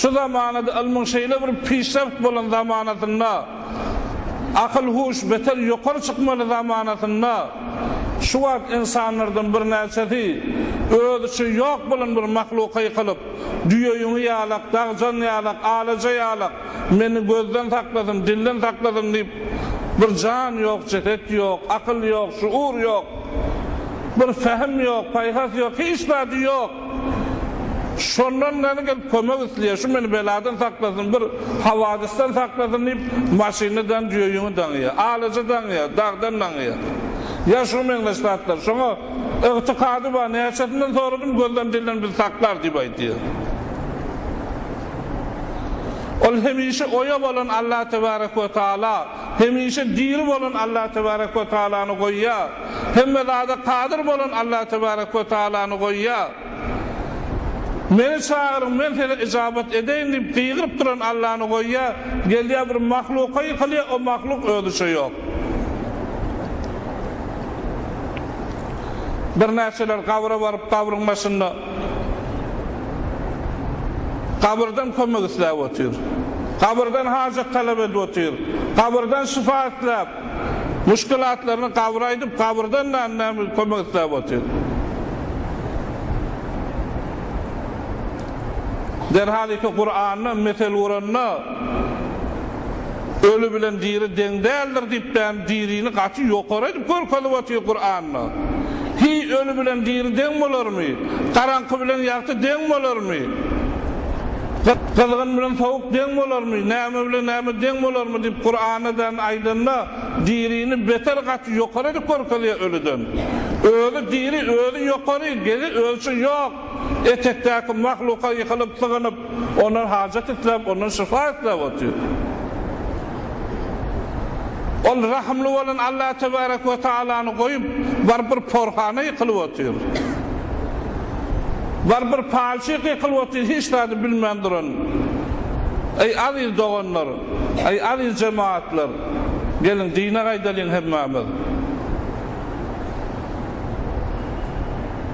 Şu zamanada ylmyň şeýle bir pişrewt bolan zamanasynda, akyl-huş beter ýokary çykmaly zamanasynda, şu wagt ynsanlardan birnäçesi özi üçin ýok bolan bir mahluka ýykylyp, düýe-ýüňi ýalak, dagjan ýalak, alaja ýalak, meni gözden saklasyn, dilden saklasyn diýip, bir jan ýok, jeset ýok, akyl ýok, şuur ýok, bir pähim ýok, paýhas ýok, hiç zady ýok. Şondan gani gelip kömek isleýär, şu meni beladan saklasyn, bir hawadysdan saklasyn diýip, maşyny dan jöýüňi daňýar, alajy daňýar, dagdan daňýar. Ýa şuňa meňzeş zatlar. Şoňa ygtykady bar, näçesinden soradym, gözden dilden bizi saklar diýip aýdýar. Ol hemişe oýa bolan Allah tebarek we taala. Hemişe diri bolan Allah tebarek we taalany goýýar. Hemme zada kadyr bolan Allah tebarek we taalany goýýar. Meni çagyryň, men size yjabat edeýin diýip gygyryp duran Allany goýýar. Gelýär bir mahluka ýykylýar, o mahluk özüçe ýok. Birnäçeler gabra baryp, gabryň başynda. Gabyrdan kömek isläp otyr. Gabyrdan hajat talap edip otyr. Gabyrdan şyfa isläp, muşkilatlaryny gabyra aýdyp, gabyrdan da näme kömek isläp otyr. Derhal iki Kuranda mesel guranda, Öli bilen diri deň däldir diýip bäni dirini gaty ýokary edip görkezip otyr Kuranda. Hiý öli bilen diri deň bolarmy? Garaňky bilen ýagty deň bolarmy? Gyzgyn bilen sowuk deň bolarmy? Näme bilen näme deň bolarmy diýip Kuranda bäni aýdanda dirini beter gaty ýokary edip görkezýär ölüden. Özi diri özi ýokary, gezi özçe ýok. Etekdäki mahluka ýykylyp sygynyp Ondan hajat isläp, ondan şypa isläp otyr. Ol rahymly bolan Alla tebärek we tagalany goýup, baryp bir porhana ýykylyp otyr. Baryp bir palçyk ýykylyp otyr, hiç zady bilmän duran. Eý, aziz doganlar! Eý, aziz jemagatlar! Geliň, dine gaýdalyň hemmämiz!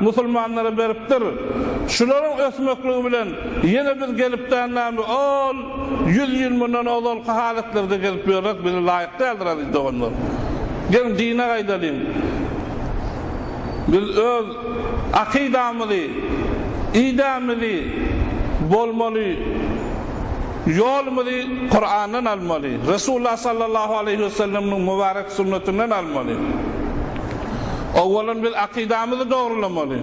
musulmanlara beripdir. Şularyň ösmekligi bilen ýene biz gelipdän näme ol ýüz ýyl mundan ozalky halatlerde gelip ýörek bize laýyk däldir aziz doganlar. Geliň dine gaýdalyň. Biz öz akydamyzy, idemizi, bolmaly ýolumyzy Kurandan almaly, Resulullah sallallahu aleýhi we selleminiň mubarek sünnetinden almaly. Owalyn biz akydamyzy dogrulamaly.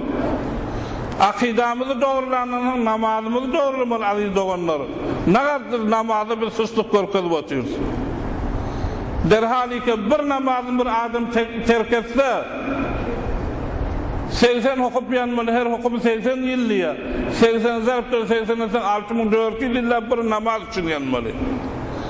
Akydamyzy dogrulandan soň namazymyzy dogrulamaly aziz doganlar. Nagardyr namazda biz sustlyk görkezip otyrys. Derhalika bir namazyny bir adam terk etse segsen hokup ýanmaly her hokuby segsen ýyl diýýär. Segsen zarbdan segsen etseň alty müň dört ýüz ýyllap bir namaz üçin ýanmaly.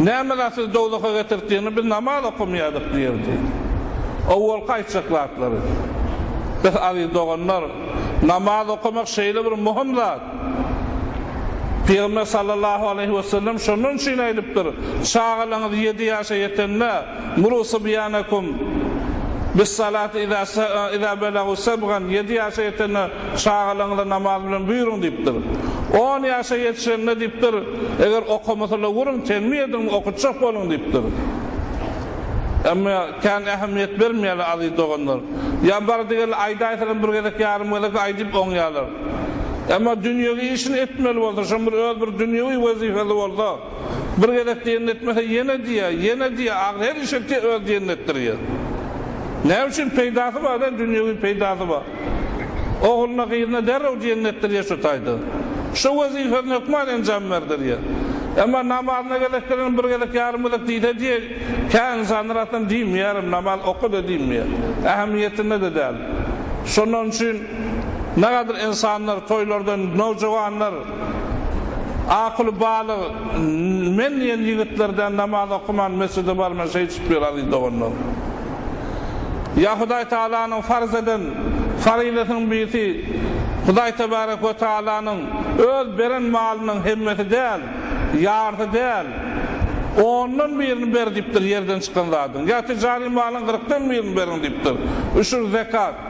Näme zat sizi dowzaha getirtdigiňi biz namaz okamaýardyk diýerdi. Owalky aýtjak zatlary. Öh aziz doganlar, namaz okamak şeýle bir muhym zat. Pygamber sallallahu aleýhi wesellem şondan üçin aýdypdyr, Çagalaňyz ýedi ýaşa ýetende, Muru sibýanakum bis-salati iza belagu sebgan, ýedi ýaşa ýetende çagalaňyza namaz bilen buýruň diýipdir. On ýaşa ýetişende diýipdir, Eger okamasa-la görüň, tegmil ediniň, okatjak boluň diýipdir. Emma kän ähmiýet bermeýärler aziz doganlar. Ýa bar diýeli aýdaýsalam bir gezek, ýarym gezek aýdyp oňýarlar. Emma dünýewi işini etmeli bolsa, şoň bir öz bir dünýewi wezipesi bolsa, bir gezek diýenini etmese ýene diýýär, ýene diýýär, ahyry her iş etýär, öz diýenini etdirýär. Näme üçin? Peýdasy bar-da, dünýewi peýdasy bar. Ogluna, gyzyna derrew jennetdir ýaşataýdy. Şu wezipesini hökman enjam berdir ýer. Emma namazyna gezek gelen bir gezek, ýarym gezek diýse diýe, kä ynsanlar aslynda diýmeýärem, namaz oka-da diýmeýär. Ähmiýetinde-de däl. Şondan üçin nähilidir ynsanlar toýlardan nowjuwanlar akuly balyk men diýen ýigitler däl namaz okaman mesjide barman şeýdişip ýör aziz doganlar. Ýa Hudaý Tagalanyň farz eden faryzatynyň birisi Hudaý Tebarek we Tagalanyň Öz beren malynyň hemmesi däl, ýarysy däl, ondan birini ber diýipdir, ýerden çykan zadyň, ýa tijary malyň gyrkdan birini beriň diýipdir, üşür, zekat.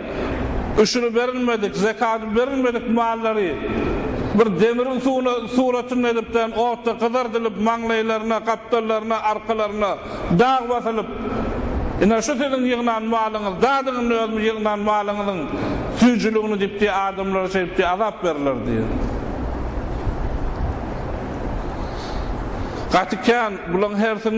Üşüri berilmedik, zekady berilmedik mallary bir demiriň suratynda edipden otda gyzardylyp, maňlaýlaryna, gapdallaryna, arkalaryna dag basylyp, Ine, şu siziň ýygnan malyňyz, dadyň indi özümiz ýygnan malyňyzyň süýjüligini diýip diýip adamlara şeýdip diýip azap berilerdi. Gaty kän bulaň hersini.